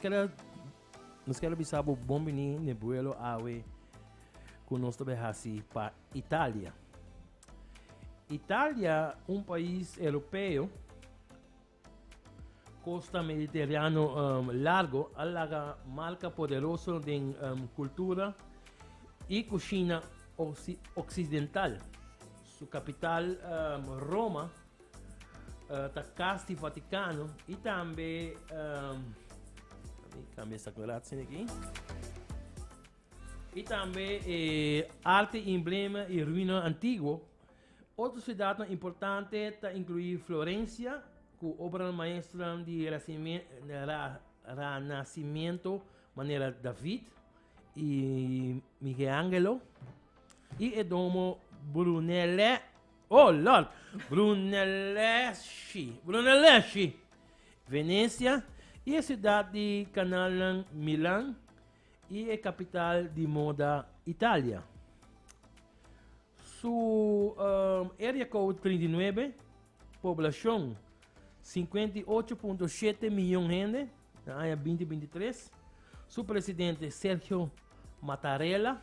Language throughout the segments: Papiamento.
Keda nos ker a bisa bo bon bini n'e buelo awe ku nos ta bai hasi pa Italia. Italia un pais europeo costa mediterráneo um, largo a laga marca poderoso den um, cultura y cocina occidental. Su capital um, Roma uh, ta kas di Vaticano i tambe um, cambia esta coloratie aquí y también eh, arte y emblema y ruinas antiguos. Otra ciudad importante está incluir Florencia, con obra maestra de Renacimiento, manera David y Miguel Ángelo, y el domo Brunelle Oh lord! Brunelleschi, Brunelleschi! Venecia y e ciudad di canalnan Milan y e capital di moda Italia. Su um, area code 39, poblacion 58.7 miljoen hende na aña 2023. Su presidente Sergio Mattarella.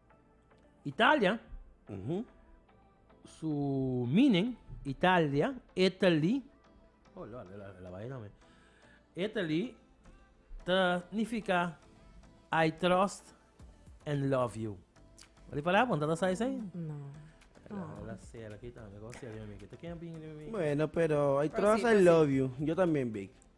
Italia, su meaning, Italia, Italy, oh lord, la vai na me. Italy ta nifica I trust and love you. Di palabra con tata sai sai? No. La sera kita, me go sera mi kita. Ken bin mi? Bueno, pero I trust and love you. Yo también big.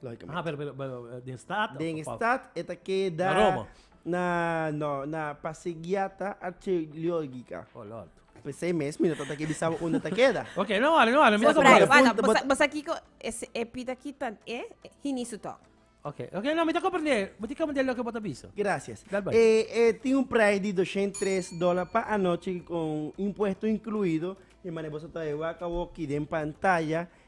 Logicamente. Ah, pero, pero, pero eh, den staat? Den of- of- staat e ta keda Na Roma? na no na Pasegiata Archeologica. Oh, Lord. Pues sei mes mi no ta taki bisabo unda ta keda. Ok, no wari, no wari. Mira Bot como- Surprise. punto, Wala, bot- bosa- bosa kiko es e pita ki tan e hini su tok. Ok, ok, no, mi ta comprende. Mi ta comprende lo que bota bisa. Gracias. Dale, bye. Eh, eh, tiene un price de 203 dólares para anoche con impuesto incluido. Y mané vos está de vaca walkie den pantalla.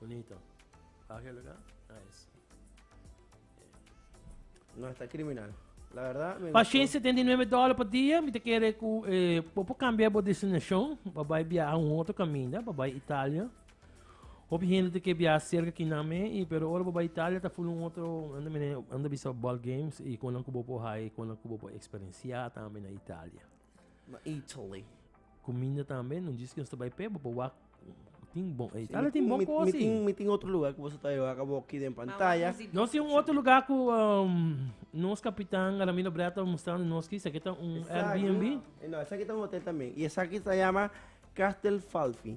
Bunito. Pak e luga. Nice. No esta criminal. La verdad, me Pa Shane, 79 dólar pa dia, mi te kere ku eh, bo por cambia bo destinacion, pa bai viaja un otro caminda, pa bai Italia. Hopi gente te ke viaja cerca ki nan me, y, pero ora bo bai Italia, ta full un otro, anda mene, anda bisa ball games, y konan ku bo por hai, konan ku bo por experiencia tambe na Italia. Na Italy. Cuminda tambe, no dice que nos ta bai p'e, bo por wak tin bon, e tala tin bon cosa. Mi tin, mi tin otro lugar cu boso ta yoga ca bo aquí den pantalla. Nos tin un otro lugar cu um, nos capitan Ramiro Brea ta mustrando nos aquí, esaki ta un Airbnb. No, esaki ta un hotel tambe. Y esaki ta yama Castel Falfi.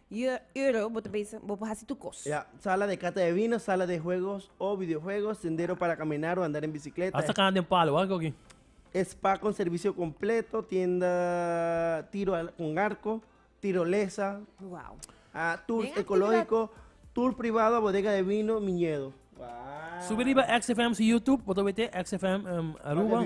Yu euro bo ta bisa bo por hasi tur cos. Ya, sala de cata de vino, sala de juegos o videojuegos, sendero para caminar o andar en bicicleta. Hasta caña den palo a cogi. Spa con servicio completo, tienda tiro al con arco, tirolesa. Wow. A tours Den ecológico, tour privado a bodega de vino, miñedo. Subi riba XFM's YouTube, bo ta wete XFM Aruba.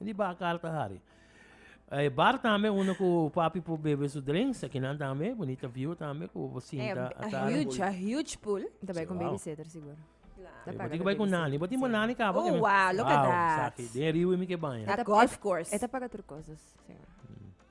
Di bakal ta hari. E bar tambe unda ku papi por bebe su drinks, e kinan tambe, bunita view tambe ku bo sinta a atari. A huge, a huge pool. Ta bai ku un babysitter sigur. Ta paga di babysitter. Bo tin bo nani kaba. Oh, wow, look at that. Den riba mi ke baña. Ta golf course. E ta paga tur kosas.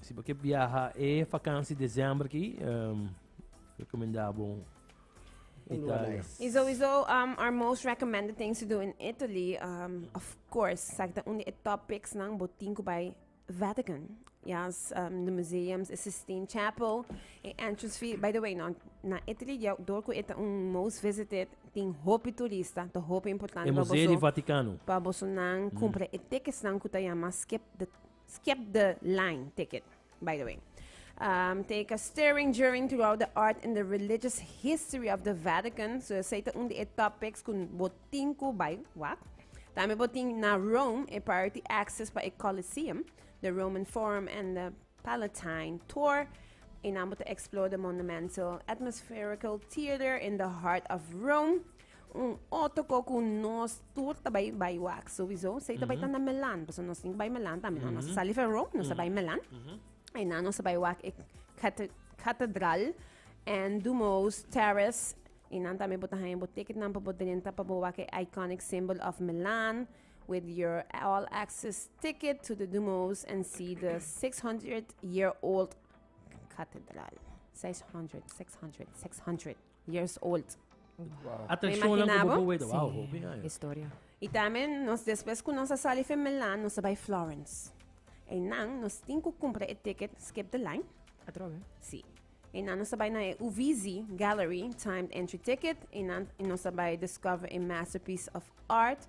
Si bo ke biaha e vakansi december ki, um, recomenda bo Italia. Y sowieso, um, our most recommended things to do in Italy, um, of course, sakta un de top picks nan botin ku bij Vatican. Yes, um, de museums, is Sistine Chapel, e entrance fee. By the way, no, na Italy, jou door ku eta un most visited, tin hopi turista, to hopi importante. E Museo di Vaticano. Pa boso nan mm. kumpra mm. e tickets nan ku ta yama skip the Skip the line ticket, by the way. Um, te ka stirring during throughout the art and the religious history of the Vatican. So, esei te un di e topics kun botin ku bai wak. Tambe botin na Rome, e priority access pa e Colosseum, the Roman Forum and the Palatine Tour. En ambos te explore the monumental atmospherical theater in the heart of Rome. Un otro co cu nos tur ta bay bay wak sowieso. Sei ta bay tan na melan. Paso nos tin bay melan también. No, nos ta sali Ferro, nos ta bay melan. En na nos ta bay wak e cate- catedral en Dumo's Terrace. Y nan también bo ta haya bo ticket nan pa bo drenta pa bo wak e iconic symbol of Milan with your all access ticket to the Dumo's and see the 600 year old catedral. 600, 600, 600. years old. Atención nan ku bobo weta. Wow, hopi aña. Sí, historia. Y también nos después cu nos a sali fen Milan, nos a bai Florence. E nan nos tin cu cumpra e ticket skip the line. Atrobe. Sí. E nan nos a bai na e Uvisi Gallery timed entry ticket. E nan nos a bai discover e masterpiece of art.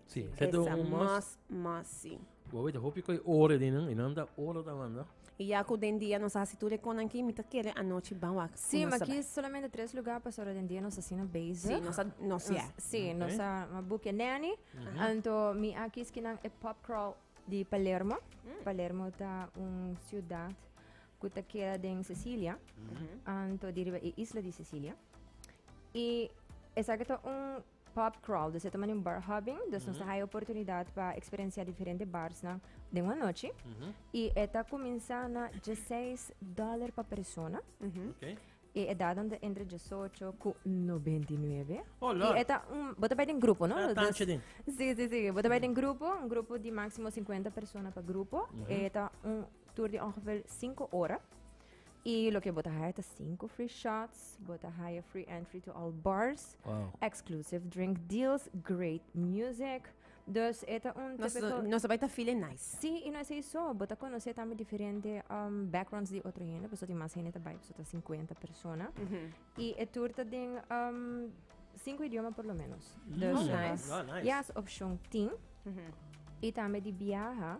Sí, Esa do un mas. mas, mas sí. Bo wete, hopi koe ore di nan, i nan ta ore ta manda. I ya ku den dia nos a hasi tur e konan ki, mi ta kere anochi ban wak. Sí, ma aki es solamente tres lugá pas ora den dia nos asina bezig. Sí, nos a, nos ya. Nos- sí, Oké. nos a a bukia nanny. Anto mi a kis kinan e pub crawl di Palermo. Palermo ta un siudat ku ta keda den Sicilia, anto di riba e isla di Sicilia. I esaki ta un Pub Crawl, Nos a tuma den un bar hopping, dus nos a haya oportunidad pa experiencia diferente barsnan den un anochi. Y e ta cuminsa na dieseis dólar pa persona. Okay. E edadnan ta entre diesocho cu nobenta i nuebe. Oh, Lord. Y e ta un, bo ta bai den grupo, no? E ta tanchi den. Sí, sí, sí. Bo ta bai den grupo, un grupo di máximo cincuenta persona pa grupo. E ta un tour di ongeveer cinco ora. Y loke bo ta haya ta cinco free shots, bo ta haya free entry to all bars, wow. exclusive drink deals, great music. Dus eta un nos, typical... Nos vai ta feel nice. Sí, y no es eso. Bo ta conocer también diferente um, backgrounds de otro gente. Pues más gente ta bai, pues ta 50 personas. Mm -hmm. Y el tour ta den um, cinco idiomas por lo menos. Mm. Dus, oh, nice. Oh, nice. Yes, option 10. Mm -hmm. Y también de viaja.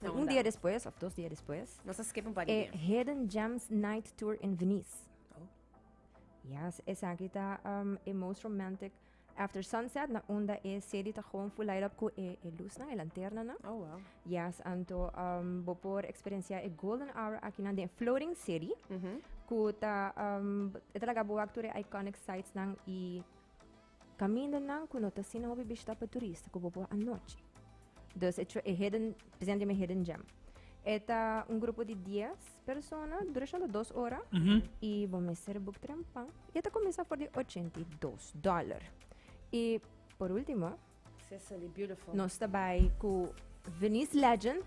Na un dia despues, of dos dia despues, Nos a skip un par di e dia. Hidden Gems Night Tour in Venice. Oh. Yes, esaki ta um, e most romantic after sunset na unda e city ta gewoon full light up ku e, e lusnan, e lanternanan. Oh, wow. Yes, anto um, bo por experiencia e golden hour aki na den floating city. Ku ta, um, e ta laga bo wak tur e iconic sites nan i Kamindanan ku no ta asina hopi bishitá pa turista ku bo por anochi. Dus e e hidden presente mi hidden gem. E ta un grupo di dies persona, durashon ta dos ora i bo mester buk trempan. I e ta kuminsá for di ochenta i dos dòler. I por último, Cecily, beautiful. nos ta bai ku Venice Legends,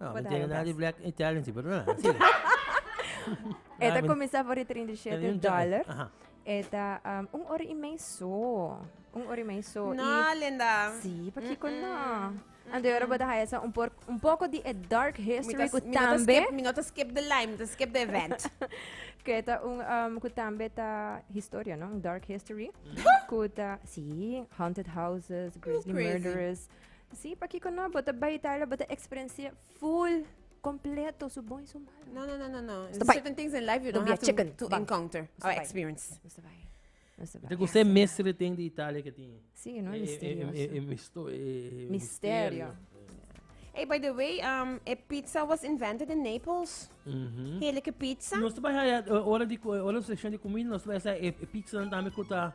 No, mi tin na di black Italian si, pero no nan. Sigue. E ta cominsá for di 37 dollar. E ta um, un ora y meio só. Un ora y meio só. No, y, linda. Sí, porque mm -mm. no. And de Europa da esa un, por, un poco de a dark history ku tambe. Mi nota skip the line, mi skip the event. que ta un um, ku tambe ta historia, no? Un dark history. ku ta, sí, haunted houses, grizzly murderers. Sí, pakiko no? Bo ta bai Italia, bo ta eksperensé full, kompleto, su bon i su malo. No, no, no, no, no. There's Stop by. certain things in life you don't Don't be a have to, chicken. to Bang. encounter Stop or by. experience. Nos ta bai. Nos ta bai. Te kusé Yes, mes re ten di Italia ke tin? Sí, no, Eh, eh, eh, misterioso. eh, eh, misto- eh, eh, Misterio. Hey, by the way, um, e pizza was invented in Naples. Mhm. Heerlijke pizza. Nos ta bai haya eh, ora di ku- ora session di comida nos ta bai haya e e pizza dan tambe kuta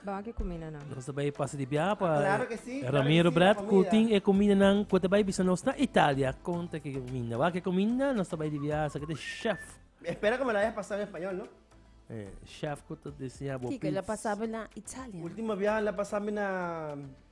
Bawak e kumindanan. Nos ta bai pasa di biaha pa Claro ke si, claro Ramiro ke si, Brad ku pamilya. tin e kumindanan ku ta bai bisa nos na Italia kon ta ke kuminda. Wak e kuminda nos ta bai di biaha sa ke ta chef. Mi espera ku mi lo haya pasa en español, no? Eh, chef ku ta diseña bo Kiko, el a pits. pasa bo na Italia? Ultima biaha el a pasa mi na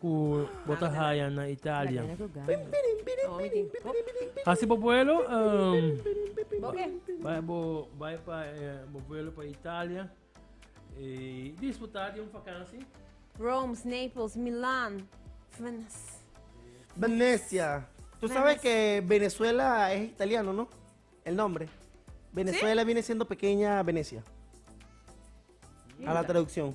ku bo ta haya na Italia. Hasi bo vuelo, um, bai bo bai pa eh, bo vuelo pa Italia. Eh, disfrutar di un vakansi. Rome, Naples, Milan, Venice. Venecia. Tú sabes que Venezuela es italiano, ¿no? El nombre. Venezuela viene siendo pequeña Venecia. A la traducción.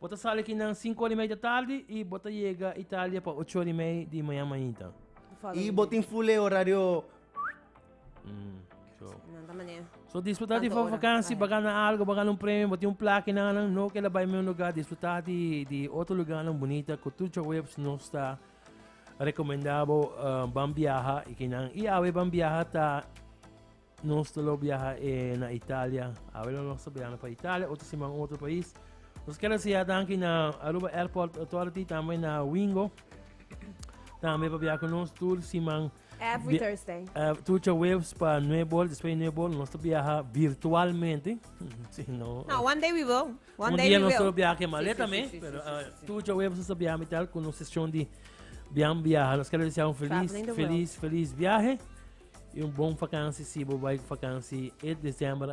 Bo ta sali aki nan sinku ora i mei di tardi i bo ta yega Italia pa ocho ora i mei di mañan mañita. I bo tin fule orario. So disfruta di for vakansi, bo a gana algu, bo a gana un premio, bo tin un plaka i nan a nan no ke la bai men un lugar. Disfruta di otro lugarnan bunita ku tur djawebs nos ta rekomendá bo ban biaha i ke nan i awe ban biaha ta. Nos ta lo biaha e na Italia. Awe lo nos ta biahando pa Italia, otro siman otro pais. Nos kere sea danki na Aruba Airport Authority, tambe na Wingo. Tambe pa biaha con nos tur siman. Every Bia- Thursday. Uh, Tucha Waves pa Nuebol, después de Nuebol, nos te viaja virtualmente. Si no, No, one day we will. One day we will. Biaha ke maleta sí, sí, sí, pero uh, sí, sí. tu yo web sa biaha mitel con un sesión de bian biaha. Nos quero desear un feliz, feliz, feliz viaje y un bon vakantie si bo vai vakantie e diciembre